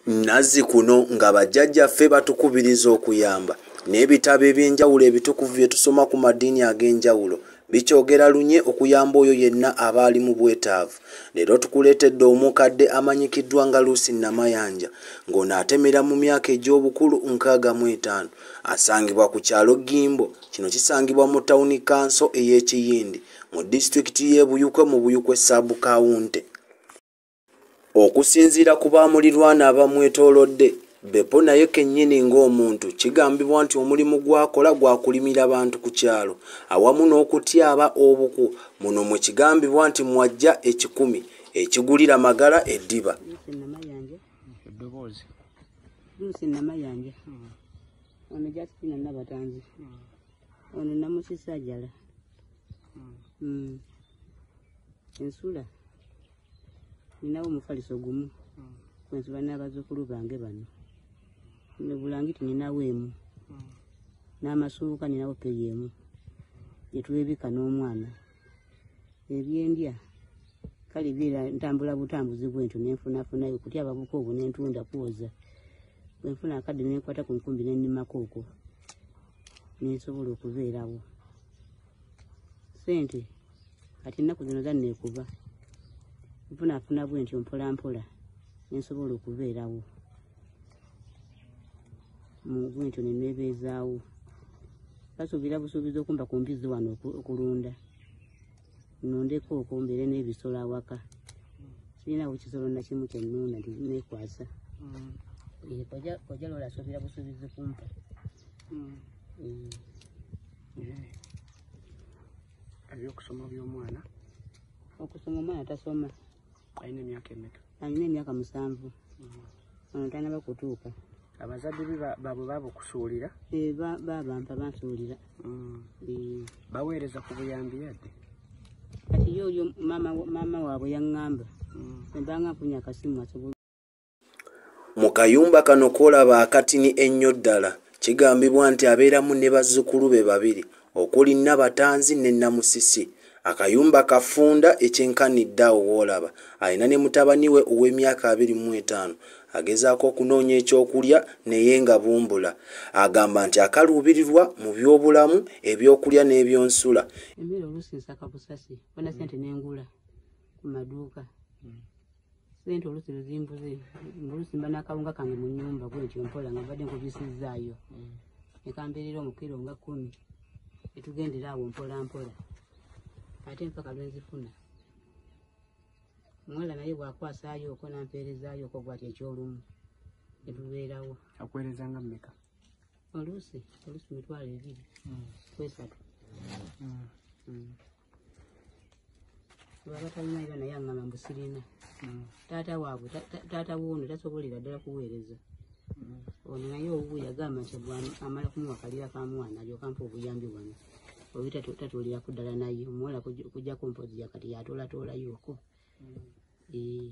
nazi kuno nga bajjajjaffe batukubiriza okuyamba n'ebitabo eby'enjawulo ebitukuvu bye tusoma ku madiini ag'enjawulo bikyogera lunye okuyamba oyo yenna aba ali mu bwetaavu leero tukuleetedde omukadde amanyikiddwa nga luusi namayanja ng'ono atemera mu myaka egy'obukulu nkaaga mu etaano asangibwa ku kyalo gimbo kino kisangibwa mu tawuni kanso ey'ekiyindi mu disitulikiti y'ebuyukwe mu buyukwe saabukawunte Okusinziira ku baamulirwana abamwetoolodde, Beppo naye kennyini ng'omuntu kigambibwa nti omulimu gw'akola gwa kulimira bantu ku kyalo awamu n'okutyaba obuku muno mwe kigambibwa nti mw'aggya ekikumi ekigulira Magala eddiba. Ono namusisa ajala. Hmm. Hmm. Ensula. ninawo omufaliso gumu hmm. kwensula n'abazzukulu bange bano nebulangiti ninawo emu hmm. n'amasuuka ninawo peri emu gyetwebika n'omwana ebyendya kale biira ntambula butambuzi bwentyo nenfunafunayo kutya ababuka obwo nentunda kwoza bwenfuna akadde nenkwata ku nkumbi nenimako okwo nensobola okubeerawo sente kati ennaku zino zanneekuba nfunaafuna bwe ntyo mpolampola nensobola okubeerawo bwe ntyo neneebeezaawo basuubira busuubiza okumba ku mbizzi wano okulunda nondeko okwo mbeere n'ebisolo awaka sirinawo kisolo nakimu kyennuuna nekwasa mm. eh, koja lola asuubira busuubizi kumpa mm. eh. ebyokusoma by'omwana okusoma omwana tasoma alina emyaka emeka alina emyaka musanvu mm-hmm. ono tanaba kutuuka abazadde be babwe baba okusuulira eh, babampa bansuulira mm. eh. baweereza ku buyambi yadde kati yo oyo maama waabwe yaŋŋamba mm. embanga nfunye akasimu asobola Mu kayumba kano k'olaba akatini ennyo ddala, kigambibwa nti abeeramu ne bazzukulu be babiri okuli Nnabatanzi ne Nnamusisi. Akayumba kafunda ekyenkanidde awo w'olaba alina ne mutabani we ow'emyaka abiri mu etaano agezaako okunoonya ekyokulya naye nga bumbula. Agamba nti akaluubirirwa mu byobulamu, ebyokulya n'ebyonsula. Emmere oluusi nsaka busasi bona ssente ne ngula ku maduuka. sente olusi luzimbuze olusi mba nakawunga kange mu nyumba gwentyo mpola nga mbadde nkubisizzaayo mm. nekambeerera omukiro nga kumi etugendera awo mpola mpola ate mpaka lwenzifuna omuwala naye bwakwasaayo oko nampeerezaayo oko gwati ekyolumu netubeerawo akuweereza nga mmeka oluusi oluusi mitwalo ebiri mm. kwesatu mm. baba talina era naye aŋŋamba mbu sirina mm. taata waabwe taata woono tasobolera ddala kuweereza mm. ono naye owuwe yagamba nti amala kumuwa kalira ka mwana alyoka mpa obuyambi bwano oyo tatuuliraku ddala naye omuwala kujjako mpozi yakati yatoolatoolayooko mm. eh.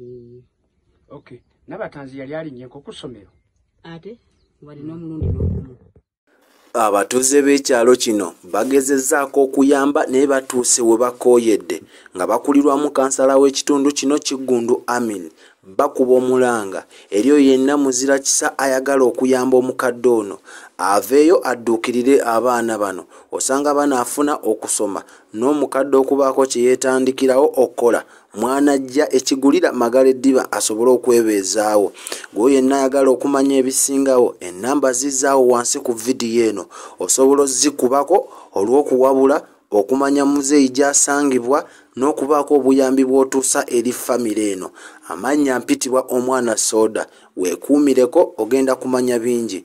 Eh, okay nabatanzi yali alinnyeko ku ssomero ate walina omulundi n'ogumu abatuuze b'ekyalo kino bagezezzaako okuyamba naye batuuse we bakooyedde nga bakulirwamu kansala w'ekitundu kino kiggundu amin bakuba omulanga eri oyo yenna muzira kisa ayagala okuyamba omukadde ono aveeyo adduukirire abaana bano osanga banaafuna okusoma n'omukadde okubaako kye yeetandikirawo okukola mwanajja ekigulira magala eddiba asobole okwebeezaawo gweyo yenna ayagala okumanya ebisingawo enamba zizaawo wansi ku vidiyo eno osobola ozikubako olw'okuwabula okumanya muzeeyi gy'asangibwa n'okubaako obuyambi bw'otuusa eri famire eno amannya mpitibwa omwana sooda weekuumireko ogenda kumanya bingi